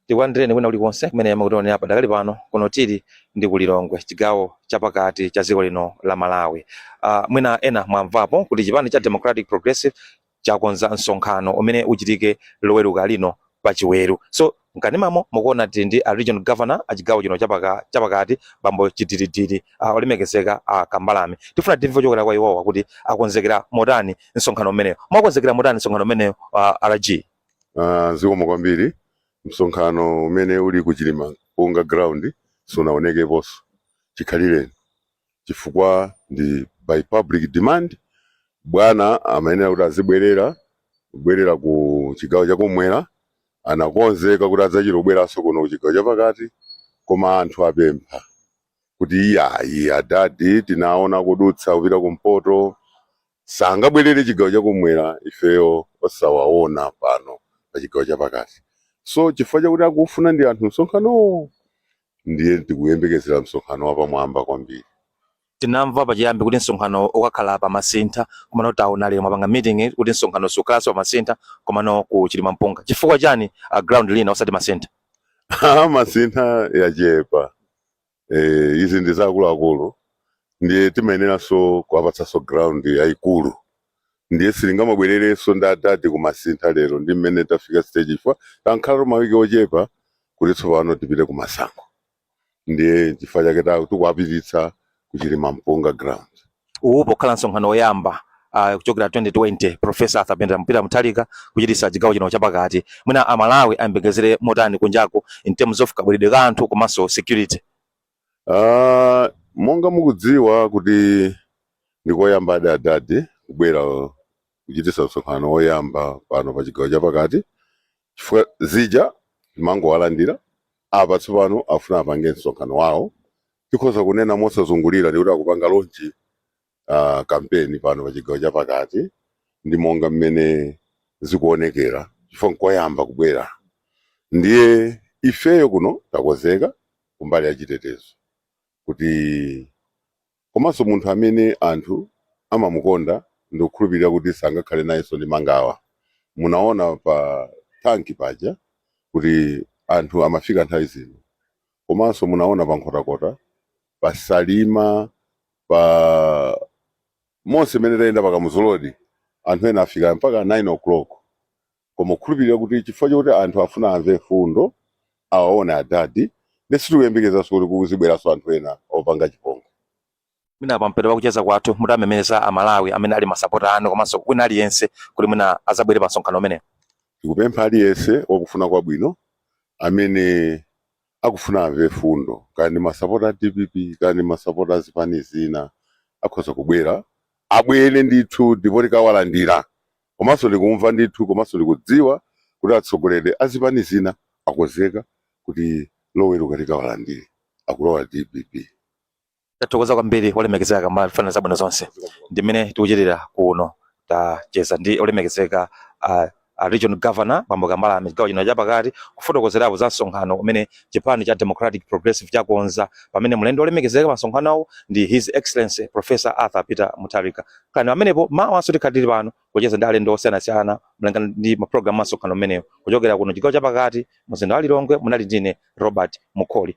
tikulandireni kwina kulikonse kumene mukutionera padakali pano kuno tili ku Lilongwe chigawo chapakati cha dziko lino la Malawi. Uh, mwina ena mwamvapo kuti chipani cha Democratic Progressive chakonza msonkhano umene uchitike loweruka lino pachiweru so mkanimamo mukuona tili ndi a regional governor a chigawo chino chapaka- chapakati bambo chidilidili uh, olemekezeka a kambalame tifuna timve chokera kwa iwowa kuti akonzekera motani msonkhano umeneyo mwakonzekera motani msonkhano umeneyo uh, rg Ah, zikomo kwambiri msonkhano umene uli ku Chilimampunga ground sunaonekeponso chikhalireni chifukwa ndi by public demand bwana amayenera kuti azibwerera kubwerera ku chigawo chakumwera anakonzeka kuti adzachitobweranso kuno ku chigawo chapakati koma anthu apempha kuti iyayi adadi tinawaona kudutsa kupita kumpoto sangabwerere chigawo chakumwera ifeyo osawaona pano pa chigawo chapakati so chifukwa chakuti akufuna ndi anthu msonkhanowo ndiye tikuyembekezera msonkhano wapamwamba kwambiri. tinamva pachiyambi kuti msonkhano ukakhala pa masintha komano taona lero mwapanga meeting kuti msonkhano sukhalanso pa masintha komano ku Chilimampunga chifukwa chani ground lina osati masintha Ah, masintha yachepa eh, izi ndi zaakuluakulu ndiye timayeneranso kuwapatsanso ground yayikulu ndiye sitingamabwererenso ndi adadi kumasintha lero ndi mmene tafika stage chifukwa tankhalatu mawiki ochepa kuti tsopano tipite ku masankho ndiye chifukwa chake ta- tikuwapititsa ku Chilimampunga ground uwu pokhala msonkhano woyamba uh, kuchokera 2020 profesa Arthur Peter Mutharika kuchititsa chigawo chino chapakati mwina amalawi ayembekezere motani kunjako in terms of kabweredwe ka anthu komanso security Aaa monga mukudziwa kuti ndikoyambadi adadi kubwera kuchititsa msonkhano woyamba pano pa chigawo chapakati chifukwa zija timangowalandira apa tsopano afuna apange msonkhano wawo tikhoza kunena mosazungulira ndikuti akupanga launch uh, kampeni pano pa chigawo chapakati ndi monga mmene zikuonekera chifukwa nkoyamba kubwera ndiye ifeyo kuno takonzeka kumbali ya chitetezo kuti komanso munthu amene anthu amamukonda ndikukhulupirira kuti sangakhale nayenso ndi mangawa munaona pa tanki paja kuti anthu amafika nthawi zino komanso munaona pa nkhotakota pasalima pa monse imene tayenda pa Kamuzu Road anthu ena afika mpaka 9 o'clock koma tikukhulupirira kuti chifukwa chokuti anthu afuna amve mfundo awaone adadi ndi sitikuyembekezanso kuti kuzibweranso anthu ena opanga chipongwe mwina pamapeto pakucheza kwathu mutawamemeza amalawi amene ali masapota anu komanso wina aliyense kuti mwina azabwere pa msonkhano umenewu tikupempha aliyense wakufuna kwabwino amene akufuna amve fundo kaya ndi masapota a dpp kaya ndi masapota a zipani zina akhoza kubwera abwere ndithu ndipo tikawalandira komanso ndikumva ndithu komanso ndikudziwa kuti atsogoleri a zipani zina akonzeka kuti loweruka tikawalandire akulowa dpp tathokoza kwambiri olemekezeka kambala tikufunirani zabwino zonse ndimene tikuchitira kuno tacheza ndi olemekezeka a regional governor bambo kambala m'chigawo chino chapakati kufotokozerapo za msonkhano umene chipani cha democratic progressive chakonza pamene mlendo olemekezeka pa msonkhanowo ndi his excellency professor arthur peter mutharika khalani pamenepo mawanso tikhala tili pano kucheza ndi alendo osiyanasiyana molingana ndi mapulogalamu a msonkhano umenewu kuchokera kuno chigawo chapakati mzinda wa lilongwe munali ndine robert mukoli